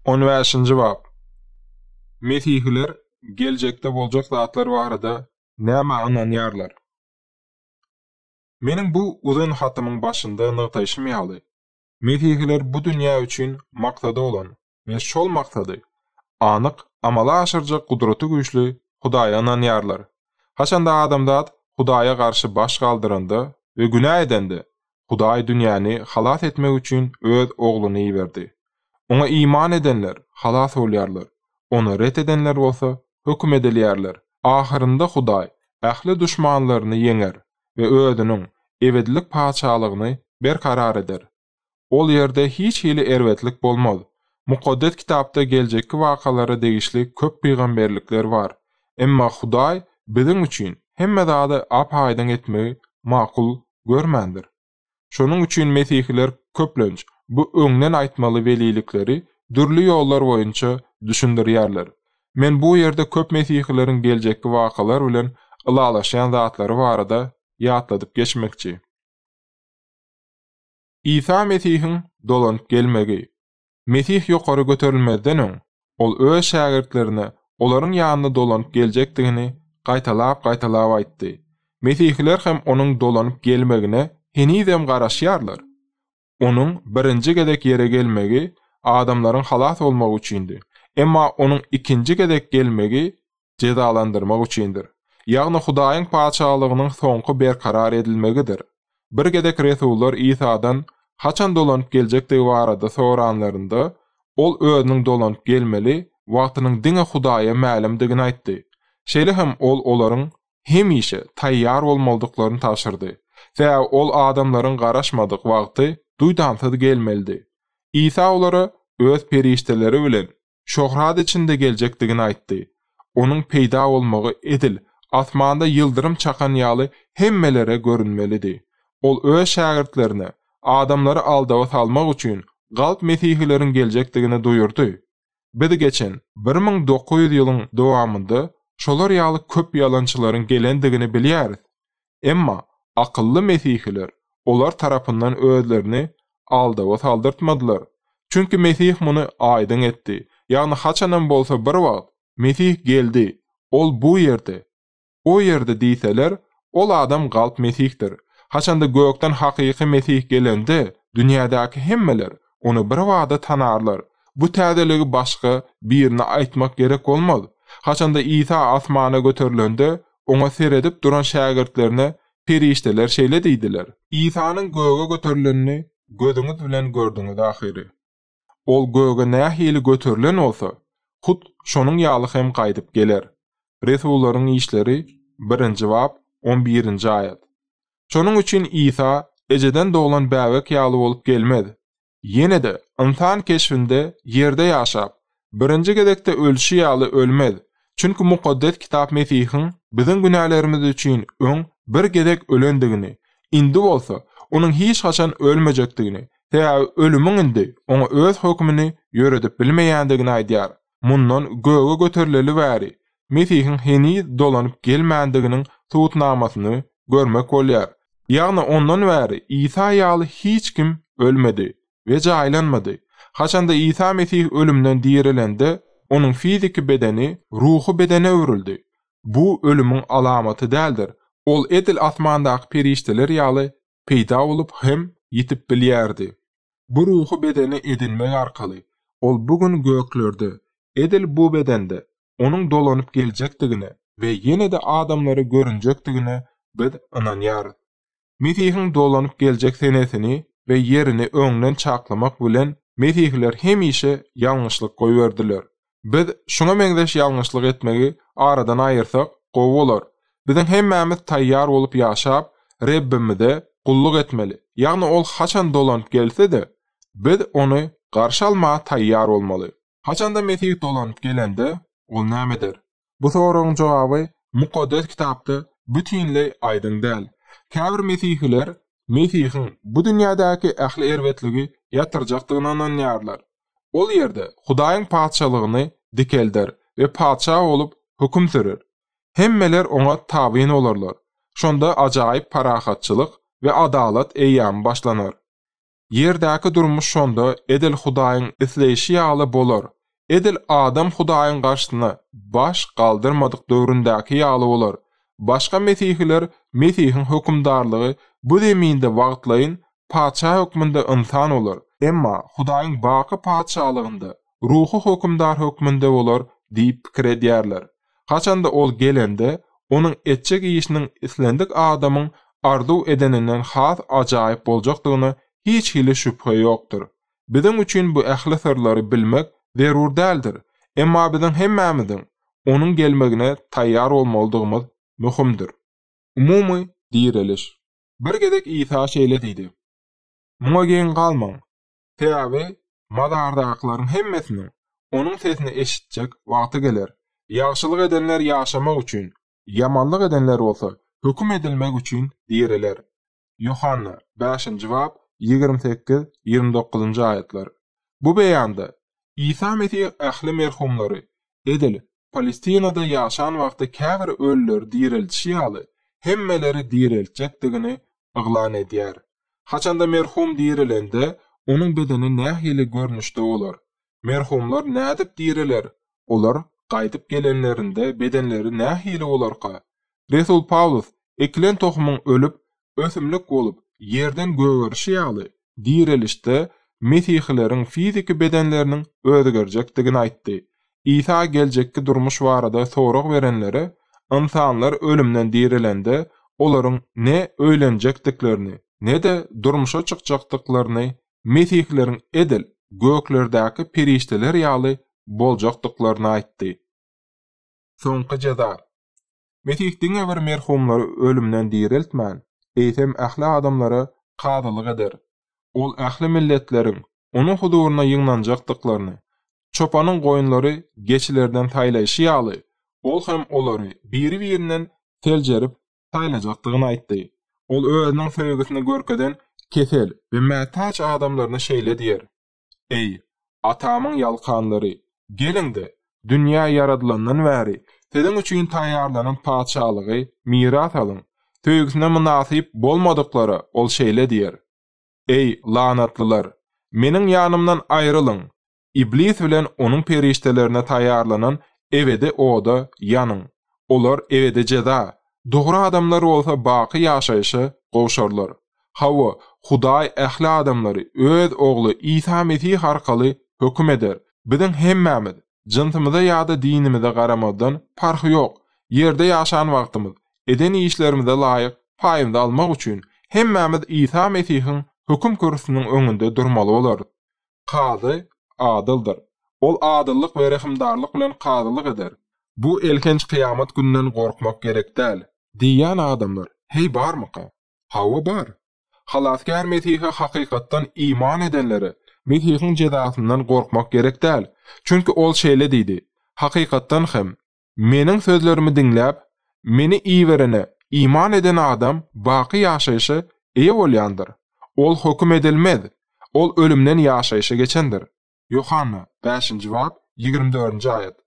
On bäşinji bap. Mesihiler geljekde boljak zatlar barada nämä ynanýarlar? Meniň bu uzyn hatymyň başynda nygtaýşym ýaly, mesihiler bu dünýä üçin maksady bolan we şol maksady anyk amala aşyrjak gudraty güýçli Hudaýa ynanýarlar. Haçanda adamzat Hudaýa garşy baş galdyranda we günä edende, Hudaý dünýäni halas etmek üçin Öz Ogluny iberdi. Oňa iman edenler halas bolýarlar, ony ret edenler bolsa höküm edilýärler. Ahyrynda Hudaý ähli duşmanlaryny ýeňer we Özüniň ebedilik Patyşalygyny berkarar eder. Ol ýerde hiç hili erbetlik bolmaz. Mukaddes Kitapda geljekki wakalara degişli köp pygamberlikler bar. Emma Hudaý biziň üçin hemme zady ap-aýdyň etmegi makul görmändir. Şonuň üçin mesihiler köplenç bu öňden aýtmaly welilikleri dürli ýollar boýunça düşündirýärler. Men bu ýerde köp mesihileriň geljekki wakalar bilen ylalaşýan zatlary barada ýatladyp geçmekçi. Isa Mesihiň dolanyp gelmegi. Mesih ýokary göterilmezden öň, ol öz şägirtlerine olaryň ýanyna dolanyp geljekdigini gaýtalap-gaýtalap aýtdy. Mesihiler hem onuň dolanyp gelmegine henizem garaşýarlar. Onuň birinji gezek ýere gelmegi adamlaryň halas bolmagy üçindi. Emma onuň ikinji gezek gelmegi jezalandyrmak üçindir. Ýagny Hudaýyň Patyşalygynyň soňky berkarar edilmegidir. Bir gezek resullar Isadan haçan dolanyp geljekdigi barada soranlarynda, ol özüniň dolanyp gelmeli wagtynyň diňe Hudaýa mälimdigini aýtdy. Şeýle hem ol olaryň hemişe taýýar bolmalydyklaryny tabşyrdy, sebäbi ol adamlaryň garaşmadyk wagty duýdansyz gelmelidi. Isa olara öz perişdeleri bilen şöhrat içinde geljekdigini aýtdy. Onuň peýda bolmagy edil asmanda ýyldyrym çakan ýaly hemmelere görünmelidi. Ol öz şägirtlerine, adamlary aldawa salmak üçin, galp mesihileriň geljekdigini duýurdy. Biz geçen bir müň dokuz ýüz ýylyň dowamynda şolar ýaly köp ýalançylaryň gelendigini bilýäris. Emma akylly mesihiler olar tarapyndan özlerini aldawa saldyrtmadylar. Çünki Mesih muny aýdyň etdi, ýagny haçanam bolsa bir wagt, Mesih geldi, Ol bu ýerde, o ýerde diýseler, ol adam galp mesihdir. Haçanda gökden hakyky Mesih gelende, dünýädäki hemmeler ony birbada tanarlar. Bu täzeligi başga Birine aýtmak gerek bolmaz. Haçanda Isa asmana göterilende, Oňa seredip duran şägirtlerine perişdeler şeýle diýdiler. Isanyň göge göterilenini gözüňiz bilen gördüňiz ahyry. Ol göge nähili göterilen bolsa, hut şonuň ýaly hem gaýdyp geler. Resullaryň işleri birinji bap on birinji aýat. Şonuň üçin Isa ejeden doglan bäbek ýaly bolup gelmez. Ýene-de, ynsan keşbinde ýerde ýaşap, birinji gezekde ölşi ýaly ölmez. Çünki Mukaddes Kitap Mesihiň biziň günälerimiz üçin öň bir gezek ölendigini, indi bolsa Onuň hiç haçan ölmejekdigini, sebäbi ölümiň indi Oňa öz hökümini ýöredip bilmeýändigini aýdýar. Mundan göge göterileli bäri Mesihiň heniz dolanyp gelmändiginiň subutnamasyny görmek bolýar. Ýagny ondan bäri Isa ýaly hiç kim ölmedi we jaýlanmady. Haçanda Isa Mesih ölümden direlende, onuň fiziki bedeni ruhy bedene öwrüldi. Bu ölümiň alamaty däldir. Ol edil asmandaky perişdeler ýaly peýda bolup hem ýitip bilýärdi. Bu ruhy bedeni edinmek arkaly, ol bu gün göklerde, edil bu bedende, onuň dolanyp geljekdigine we ýene-de adamlara görünjekdigine biz ynanýarys. Mesihiň dolanyp geljek senesini we ýerini öňden çaklamak bilen mesihiler hemişe ýalňyşlyk goýberdiler. Biz şuňa meňzeş ýalňyşlyk etmegi aradan aýyrsak, gowy bolar. Biziň hemmämiz taýýar bolup ýaşap, Rebbimize gulluk etmeli. Ýagny Ol haçan dolanyp gelse-de, biz Ony garşy almaga taýýar bolmaly. Haçanda Mesih dolanyp gelende, Ol näme eder? Bu soragyň jogaby Mukaddes Kitapda bütinleý aýdyň däl. Käbir mesihiler Mesihiň bu dünýädäki ähli erbetligi ýatyrjakdygyna ynanýarlar. Ol ýerde Hudaýyň Patyşalygyny dikelder we patyşa bolup höküm sürer. Hemmeler oňa tabyn bolarlar. Şonda ajaýyp parahatçylyk we adalat eýýamy başlanar. Ýerdäki durmuş şonda edil Hudaýyň isleýşi ýaly bolar, edil adam Hudaýyň garşysyna baş galdyrmadyk döwründäki ýaly bolar. Başga mesihiler Mesihiň hökümdarlygy bu zeminde wagtlaýyn Patyşa hökmünde ynsan bolar, emma Hudaýyň baky Patyşalygynda Ruhy Hökümdar hökmünde bolar diýip pikir edýärler. Haçanda ol gelende, onuň etjek işiniň islendik adamyň arzuw edeninden has ajaýyp boljakdygyna hiç hili şübhe ýokdur. Biziň üçin bu ähli syrlary bilmek zerur däldir, emma biziň hemmämiziň Onuň gelmegine taýýar bolmalydygymyz möhümdir. Umumy direliş. Bir gezek Isa şeýle diýdi, Muňa geň galmaň. Sebäbi mazardakylaryň hemmesiniň Onuň sesini eşitjek wagty geler. Ýagşylyk edenler ýaşamak üçin, ýamanlyk edenler bolsa höküm edilmek üçin diriler. Ýohanna, bäşinji bap, ýigrimi sekiz, ýigrimi dokuzynjy aýatlar. Bu beýanda, Isa Mesih ähli merhumlary, Edil, Palestinada ýaşan wagty käbir ölüleri direltişi ýaly, hemmeleri direltjekdigini yglan edýär. Haçanda merhum direlende, onuň bedeni nähili görnüşde bolar? Merhumlar nädip direler? Olar gaýdyp gelenlerinde bedenleri nähili bolarka? Resul Pawlus, Ekilen tohumyň ölüp, ösümlik bolup, ýerden gögerişi ýaly, direlişde mesihileriň fiziki bedenleriniň özgerjekdigini aýtdy. Isa geljekki durmuş barada sorag berenlere, ynsanlar ölümden direlende, olaryň ne öýlenjekdiklerini, ne-de durmuşa çykjakdyklaryny, mesihileriň edil göklerdäki perişdeler ýaly boljakdyklaryny aýtdy. Soňky jeza, Mesih diňe bir merhumlary ölümden direltmän, eýsem ähli adamlara kazylyk eder. Ol ähli milletleriň Onuň huzuryna ýygnanjakdyklaryny, çopanyň goýunlary geçilerden saýlaýşy ýaly, Ol hem olary biri-birinden seljerip saýlajakdygyny aýtdy. Ol Özüniň söýgüsini görkezen kesel we mätäç adamlaryna şeýle diýer. Eý, atamyň ýalkanlary, geliň-de, dünýä ýaradylandan bäri siziň üçin taýýarlanan patyşalygy miras alyň! Söýgüsine mynasyp bolmadyklara ol şeýle diýer, Eý, lanatlylar, Meniň ýanymdan aýrylyň! Iblis bilen onuň perişdelerine taýýarlanan ebedi oda ýanyň! Olar ebedi jeza, dogry adamlar bolsa baky ýaşaýşa gowşarlar. Hawa, Hudaý ähli adamlary Öz Ogly Isa Mesih arkaly höküm eder. Biziň hemmämiz, jynsymyza ýa-da dinimize garamazdan, parhy ýok, ýerde ýaşan wagtymyz, eden işlerimize laýyk paýymyzy almak üçin, hemmämiz Isa Mesihiň höküm kürsüsiniň öňünde durmaly bolarys. Kazy adyldyr. Ol adyllyk we rehimdarlyk bilen kazylyk eder. Bu elhenç kyýamat gününden gorkmak gerek däl. Diýýän adamlar, heý, barmyka? Hawa, bar. Halasgär Mesihe hakykatdan iman edenlere Mesihiň jezasyndan gorkmak gerek däl. Çünki Ol şeýle diýdi, Hakykatdan hem, Meniň sözlerimi diňläp, Meni iberene iman eden adam baky ýaşaýşa eýe bolýandyr, ol höküm edilmez, ol ölümden ýaşaýşa geçendir. Ýohanna, bäşinji bap, ýigrimi dördünji aýat.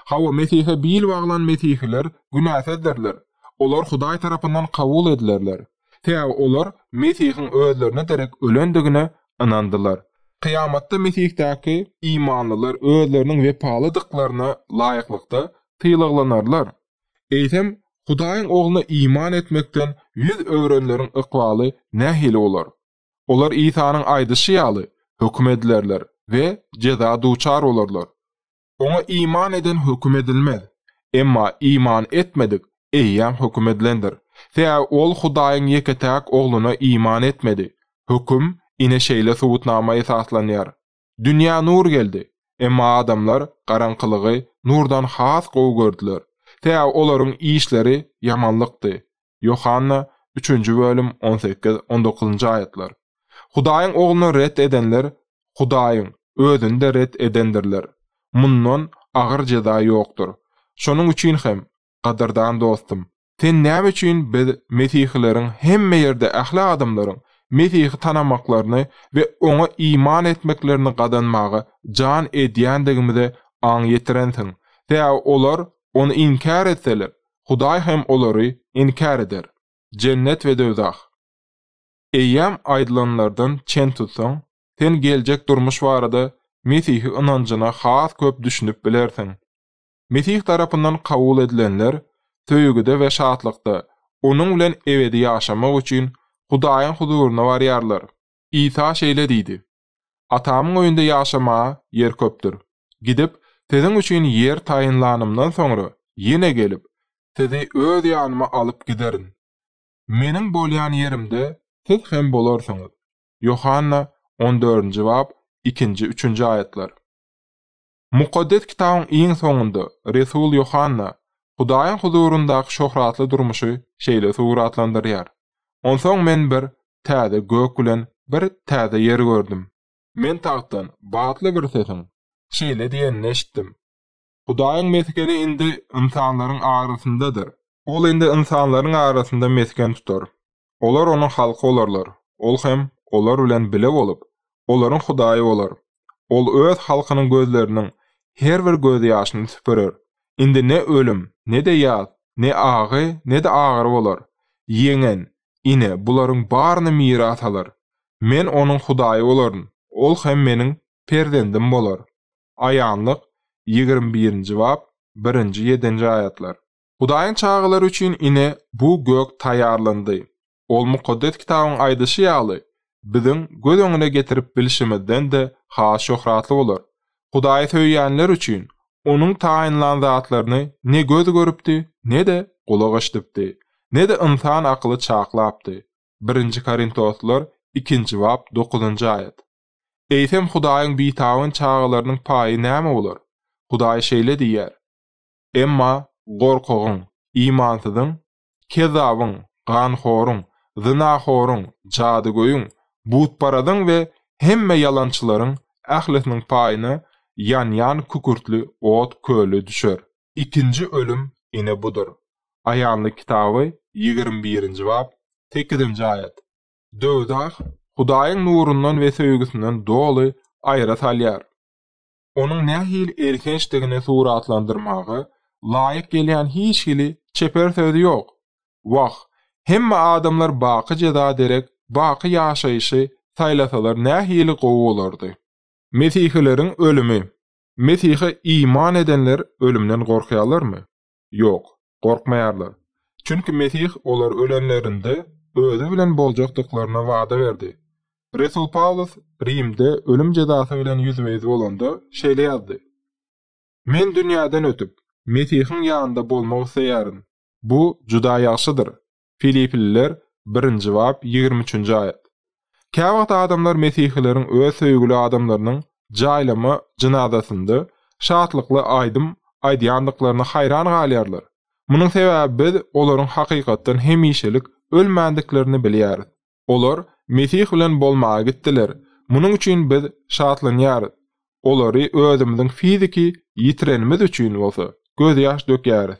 Hawa, Mesihe bil baglan mesihiler günäsizdirler, olar Hudaý tarapyndan kabul edilerler. Sebäbi olar Mesihiň özlerine derek ölendigine ynandylar. Kyýamatda Mesihdäki imanlylar özleriniň wepalydyklaryna laýyklykda sylaglanarlar. Eýsem, Hudaýyň Ogluna iman etmekden ýüz öwrenleriň ykbaly nähili bolar? Olar Isanyň aýdyşy ýaly, höküm edilerler we jeza duçar bolarlar. Oňa iman eden höküm edilmez. Emma iman etmedik eýýäm höküm edilendir. Sebäbi ol Hudaýyň ýeke-täk Ogluna iman etmedi. Höküm ine şeýle subutnama esaslanýar. Dünýä nur geldi. Emma adamlar garaňkylygy nurdan has gowy gördüler. Sebäbi olaryň işleri ýamanlykdy. Ýohanna, üçünji bölüm, on sekiz, on dokuzynjy aýatlar. Hudaýyň Ogluny ret edenler Hudaýyň Özüni-de ret edendirler. Mundan agyr jeza ýokdur. Şonuň üçin hem, gadyrdan dostum, sen näme üçin biz mesihileriň hemme ýerde ähli adamlaryň Mesihi tanamaklaryny we Oňa iman etmeklerini gazanmaga jan edýändigimize aň ýetirensiň? Sebäbi olar Ony inkär etseler, Hudaý hem olary inkär eder. Jennet we döwzah. Eýýäm aýdylanlardan çen tutsaň, sen geljek durmuş barada Mesihi ynanjyna has köp düşünip bilersiň. Mesih tarapyndan kabul edilenler söýgüde we şatlykda Onuň bilen ebedi ýaşamak üçin Hudaýyň huzuryna barýarlar. Isa şeýle diýdi, Atamyň öýünde ýaşamaga ýer köpdür. Gidip, siziň üçin ýer taýynlanymdan soňra, ýene gelip, sizi öz ýanyma alyp giderin. Meniň bolýan ýerimde siz hem bolarsyňyz. Ýohanna on dördünji bap, ikinji, üçünji aýatlar. Mukaddes Kitabyň iň soňunda resul Ýohanna Hudaýyň huzuryndaky şöhratly durmuşy şeýle suratlandyrýar, Onsoň men bir täze gök bilen bir täze ýer gördüm. Men tagtdan batly bir sesiň şeýle diýenini eşitdim, Hudaýyň mesgeni indi ynsanlaryň arasyndadyr, Ol indi ynsanlaryň arasynda mesgen tutar. Olar Onuň halky bolarlar, Ol hem olar bilen bile bolup, olaryň Hudaýy bolar. Ol Öz halkynyň gözleriniň her bir gözýaşyny süpürer. Indi ne ölüm, ne-de ýas, ne agy, ne-de agyry bolar. Ýeňen, ine, bularyň baryny miras alar. Men onuň Hudaýy bolaryn, ol hem Meniň perzendim bolar. Aýanlyk, ýigrimi birinji bap, birinji, ýedinji aýatlar. Hudaýyň çagalary üçin ine, bu gök taýýarlandy. Ol Mukaddes Kitabyň aýdyşy ýaly, biziň göz öňüne getirip bilşimizden-de has şöhratly bolar. Hudaýy söýýänler üçin Onuň taýynlan zatlaryny ne göz görüpdi, ne-de gulak eşidipdi, ne-de ynsan akyly çaklapdy. Birinji Korintoslylar ikinji bap dokuzynjy aýat. Eýsem, Hudaýyň bitabyn çagalarynyň paýy näme bolar? Hudaý şeýle diýýär. Emma gorkagyň, imansyzyň, kezzabyň, ganhoruň, zynahoruň, jadygöýüň, butparazyň we hemme ýalançylaryň ählisiniň paýyna ýanýan kükürtli ot köli düşer. Ikinji ölüm ine budur. Aýanlyk kitaby ýigrimi birinji bap, sekizinji aýat. Döwzah Hudaýyň nurundan we söýgüsinden doly aýra salýar. onuň nähili elhençdigini suratlandyrmaga laýyk gelýän hiç hili çeper söz ýok. Wah, hemme adamlar baky jeza derek baky ýaşaýşy saýlasalar nähili gowy bolardy. Mesihileriň ölümi. Mesihe iman edenler ölümden gorkýarlarmy? Ýok, gorkmaýarlar. Çünki Mesih olar ölenlerinde Özi bilen boljakdyklaryna wada berdi. Resul Pawlus Rimde ölüm jezasy bilen ýüzbe-ýüz bolanda şeýle ýazdy, Men dünýäden ötüp, Mesihiň ýanynda bolmak isleýärin. Bu juda ýagşydyr. Filipliler, birinji bap, ýigrimi üçünji aýat. Käwagt adamlar mesihileriň öz söýgüli adamlarynyň jaýlama jynazasynda şatlykly aýdym aýdýandyklaryna haýran galýarlar. Munuň sebäbi biz olaryň hakykatdan hemişelik ölmändiklerini bilýäris. Olar Mesih bilen bolmaga gitdiler. Munuň üçin biz şatlanýarys. Olary özümiziň fiziki ýitirenimiz üçin bolsa, gözýaş dökýäris.